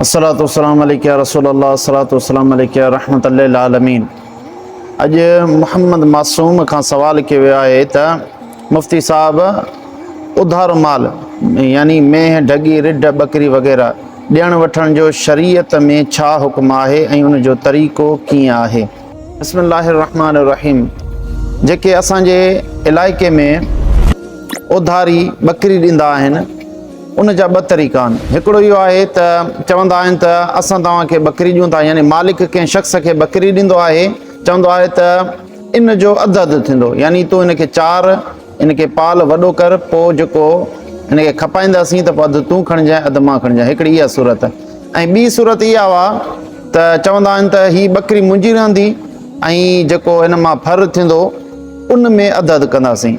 الصلوة والسلام عليك يا رسول الله الصلوة والسلام عليك يا رحمة للعالمين اڄ محمد معصوم کان سوال ڪيو ويو آهي ته مفتي صاحب اڌارو مال يعني مينهن ڍڳي رڍ ٻڪري وغيره ڏيڻ وٺڻ جو شريعت ۾ ڇا حڪم آهي ۽ ان جو طريقو ڪيئن آهي بسم الله الرحمٰن الرحيم جيڪي اسان جي علائقي ۾ اڌاري ٻڪري ڏيندا آهن ان جا ٻه طريقا آهن. هڪڙو اهو آهي ته چوندا آهن ته اسان توهان کي ٻڪري ڏيون ٿا يعني مالڪ ڪنهن شخص کي ٻڪري ڏيندو آهي چوندو آهي ته ان جو اڌ اڌ ٿيندو يعني تون هن کي چار هن کي پال وڏو ڪر پوء جيڪو هن کي کپائينداسين ته پوء اڌ تون کڻجانء اڌ مان کڻجان هڪڙي اها صورت ۽ ٻي صورت اها هئا ته چوندا آهن ته هي ٻڪري منهنجي رهندي ۽ جيڪو هن مان ڦر ٿيندو ان ۾ اڌ اڌ ڪنداسين.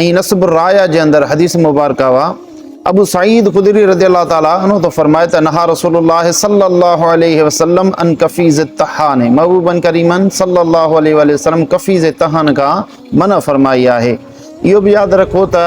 ۽ نصب الرايا جي اندر حديث مبارڪه اهو ابو سعيد خدري رضي الله تعالٰي عنه ٿو فرمائي ته نها رسول الله صلي الله عليه وسلم ان قفيز التحان محبوبا ڪريما صلي الله عليه واله وسلم قفيز تحان کان منع فرمائي آهي اهو به ياد رکو ته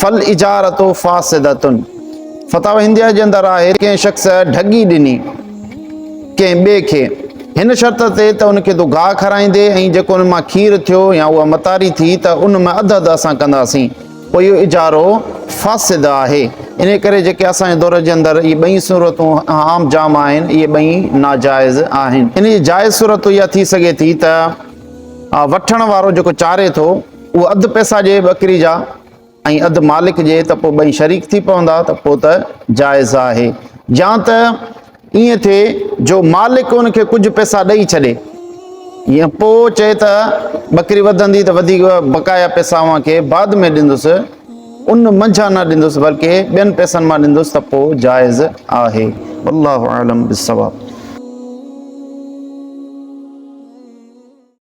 فالاجارة فاسدة فتاوي هنديه جي اندر آهي ڪنهن شخص ڍڳي ڏني ڪنهن ٻئي کي هن شرط تي ته ان کي تون گاهه کارائيندي ۽ جيڪو ان مان کير ٿيو يا اها متاري ٿي ته ان ۾ اڌ اڌ اسان ڪنداسين پوء اهو اجارو فاسد آهي ان ڪري جيڪي اسان جي دور جي اندر اهي ٻئي صورتون عام جام آهن اهي ٻئي ناجائز آهن ان جي جائز صورت اها ٿي سگهي ٿي ته وٺڻ وارو جيڪو چاري ٿو اهو اڌ پئسا ڏئي ٻڪري جا ۽ اڌ مالڪ ڏئي ته پوء ٻئي شريڪ ٿي پوندا ته پوء ته جائز آهي يا ته ائين ٿئي جو مالڪ ان کي ڪجهه پئسا ڏئي ڇڏي يا پوء چئي ته ٻڪري وڌندي ته وڌيڪ بقايا پئسا اوهان کي بعد ۾ ڏيندس ان منجهان نه ڏيندس بلڪه ٻين پئسن مان ڏيندس ته پوء جائز آهي والله اعلم بالصواب